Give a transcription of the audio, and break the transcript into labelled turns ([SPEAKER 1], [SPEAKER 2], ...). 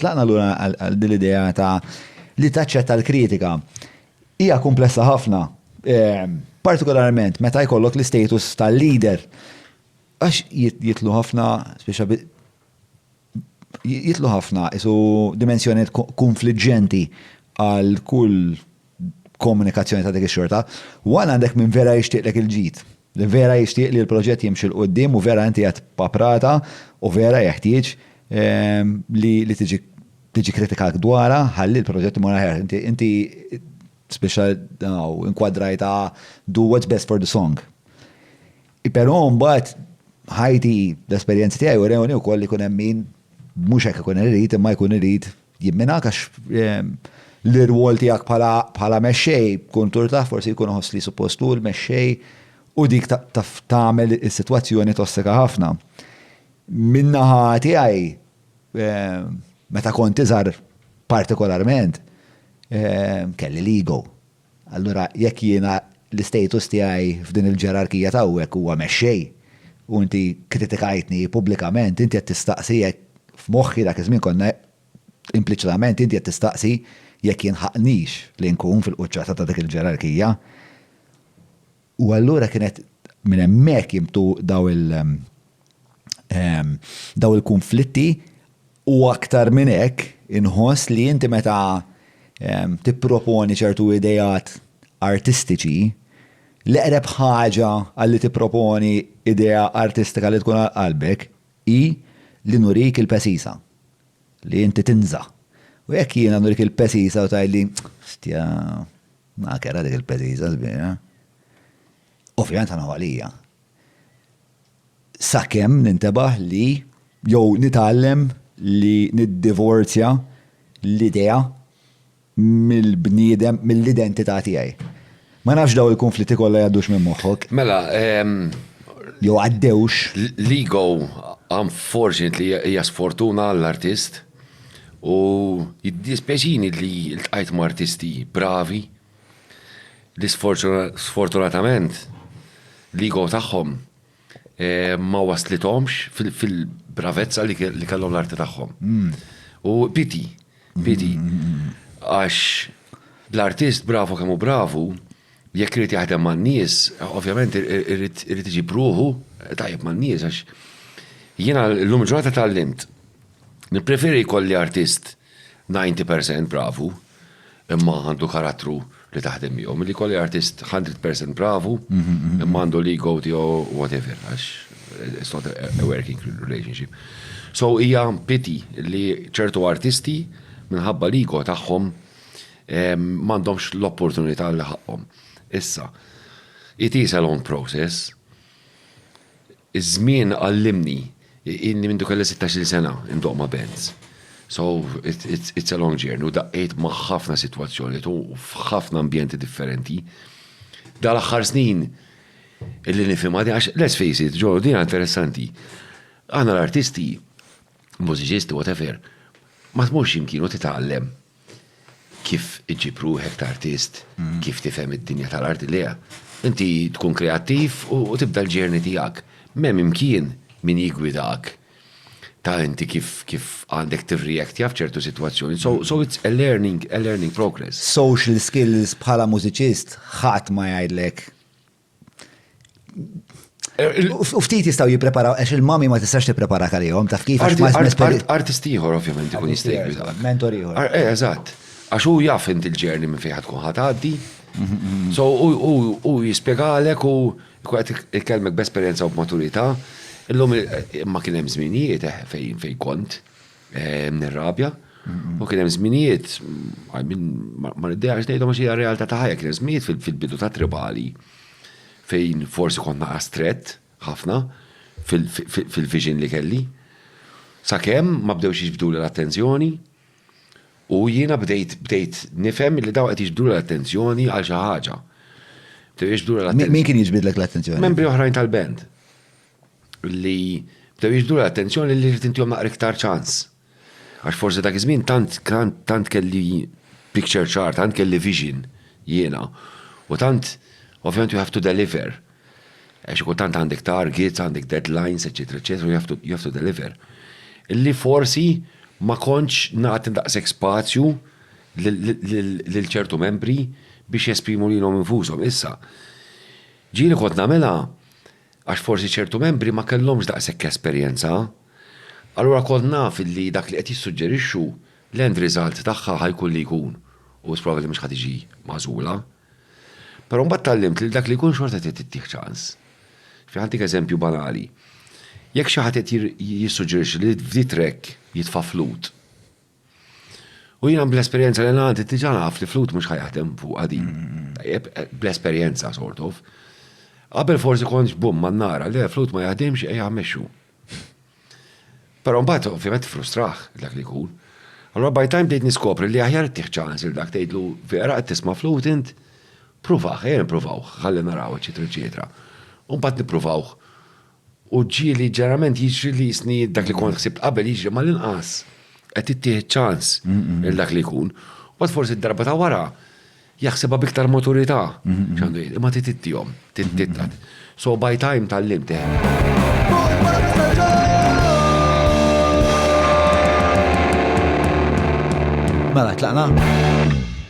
[SPEAKER 1] Tlaqna lura għal din l-idea ta' li taċċetta l-kritika. Hija kumplessa ħafna, ehm, partikolarment meta jkollok l-istatus tal-leader. Għax jitlu ħafna, speċa jitlu ħafna isu dimensjoniet konfliġġenti għal kull komunikazzjoni ta' dik ix-xorta. Wan għandek minn vera jixtieqlek il-ġid. li vera jixtieq li l-proġett jimxi 'l quddiem u vera inti qed paprata u vera jeħtieġ li tiġi tiġi kritikak dwarha ħalli l-proġett imur aħjar. Inti inti spiċċa daw inkwadrajta do what's best for the song. Però mbagħad ħajti l-esperjenzi tiegħi u rewni wkoll li jkun hemm min mhux hekk ikun irid imma jkun irid Jimminak għax l-irwol tiegħek bħala mexxej kun turtah forsi jkun iħoss li suppost hu l-mexxej u dik taf tagħmel is-sitwazzjoni tossika ħafna. Min-naħa tiegħi meta kont iżgħar partikolarment kelli l-ego. Allura jekk jiena l-istatus tiegħi f'din il-ġerarkija t'hawnhekk huwa mexxej u inti kkritikajtni pubblikament, inti qed tistaqsi jekk, f'moħħi dak iż-żmien konna, impliċitament inti qed tistaqsi jekk jinħaqqnix li nkun fil-quċċata ta' dik il-ġerarkija. U allura kienet minn hemmhekk jimtu daw il ehm, daw il-kunflitti u aktar minn hekk inħoss li inti meta ehm, tipproponi ċertu idejat artistiċi l-eqreb ħaġa għalli tipproponi idea artistika li tkun għal qalbek hi li nurik il-pesisa li inti tinża. U jekk jiena nurik il-pesisa u tajli stja Mela kellha dik il-pezizza sbieha. Ovvjament ħa naħu għalija. Sakemm nintebaħ li jew nitgħallem li niddivorzja l-idea mill-bniedem, mill-identità tiegħi. Ma nafx daw il-kunflitti kollha jgħaddux minn moħħok. Mela, jew għaddewx. L-ego
[SPEAKER 2] unfortunately hija sfortuna għall-artist. U jiddispjaċini li ltqajt ma' artisti bravi li sfortunatament l-ego tagħhom ma waslithomx fil-bravezza li kellhom l-arti tagħhom. U pity, pity. Għax l-artist bravu kemm hu bravu, Jekk irid jaħdem man-nies, ovvjament irid iġib ruħu tajjeb man-nies għax jiena llum il-ġurnata tgħallimt. Nippreferi jkolli artist 90 percent bravu imma għandu karattru li taħdem miegħu milli jkolli artist 100 percent bravu imma għandu l-ego tiegħu whatever għax it's not a working relationship. So hija pity li ċertu artisti minħabba l-ego tagħhom M'għandhomx l-opportunità li ħaqqhom. Issa, it is a long process. Iż-żmien għallimni, ilni mindu kelli 16-il sena indoqq ma' bands. So, it's a long journey u daqqejt ma' ħafna sitwazzjonijiet u f'ħafna ambjenti differenti. Dan l-aħħar snin illi nifhimha din għax let's face it, Ġorġ, din hija interessanti. Aħna l-artisti, mużiċisti, whatever, ma tmurx x'imkien u titgħallem. kif iġġib ruħek ta' artist, kif tifhem id-dinja tal-arti li hija. Inti tkun kreattiv u tibda l-journey tiegħek. M'hemm imkien min jiggwidak ta' inti kif għandek tirreactja f'ċertu sitwazzjoni. So, so it's a learning, a learning progress. Social skills
[SPEAKER 1] bħala mużiċist ħadd ma jgħidlek U ftit jistaw jipreparaw, għax il-mami ma tistax tipprepara għalihom, taf kif għax ma Artist
[SPEAKER 2] ieħor ovvjament ikun jista' jgħidlek. Mentor ieħor. Eh,
[SPEAKER 1] eżatt.
[SPEAKER 2] Għax hu jaf inti l-ġerni minn fejn tkun ħatgħaddi. So u jispjegalek u kwet ikellmek b'esperjenza u b'maturità. Illum imma kien hemm żminijiet eh, fejn fejn kont. Nirrabja. U kien hemm żminijiet, ma niddejaqx ngħidhom għax hija realtà ta' ħajja, kien hemm żminijiet fil-bidu ta' Tribali fejn forsi kont naqas strett ħafna fil-vision li kelli. Sakemm ma bdewx jiġbduli l-attenzjoni u jiena bdejt bdejt nifhem li dawn qed jiġbduli l-attenzjoni għal xi ħaġa. Bdew jiġbduli l-attenzjoni. Min kien jiġbidlek l-attenzjoni?
[SPEAKER 1] Membri oħrajn tal-band.
[SPEAKER 2] li bdew jiġbdu l-attenzjoni li rrid intihom naqra iktar ċans. Għax forsi dak iż-żmien tant tant kelli picture ċar, tant kelli vision jiena. U tant ovvjament you have to deliver. Għax kultant għandek targets, għandek deadlines, eċetera, eċetera, you have to, you have to deliver. Li forsi ma kontx nagħti daqshekk spazju lil ċertu membri biex jesprimu lilhom infushom. Issa, ġieli kont nagħmilha għax forsi ċertu membri ma kellhomx daqshekk esperjenza, allura kont naf illi dak li qed jissuġġerixxu l-end result tagħha ħa jkun li jkun u wisq probabbli li mhux ħa tiġi magħżula. Però mbagħad tgħallimt li dak li jkun xorta trid ittih ċans. Ġifieri ħantik eżempju banali. Jekk xi ħadd qed jissuġġerixxi li f'di track jitfa' flute, U jiena bl-esperjenza li għandi diġà naf li flut mhux ħajaħdem fuq għadin. Bl-esperjenza sort of. Qabel forsi kontx bum ma nara li flut ma jaħdimx ejja mexxu. Però mbagħad ovvjament frustraħ dak li jkun. Allora by time bdejt niskopri li aħjar tih ċans il dak tgħidlu vera qed tisma' flut int pruvaħ, ejja nippruvaw, ħalli naraw eċetera eċetera. U mbagħad nippruvawh U ġieli ġeneralment jiġri li jisni dak li kont ħsibt qabel jiġri mal-inqas qed ittieħed ċans il dak li jkun. U għad forsi d-darba ta' wara jaħsibha biktar maturità. Xandu jgħid, imma trid ittihom, trid titqad. So by time tgħallimt eh.
[SPEAKER 1] Mela tlaqna?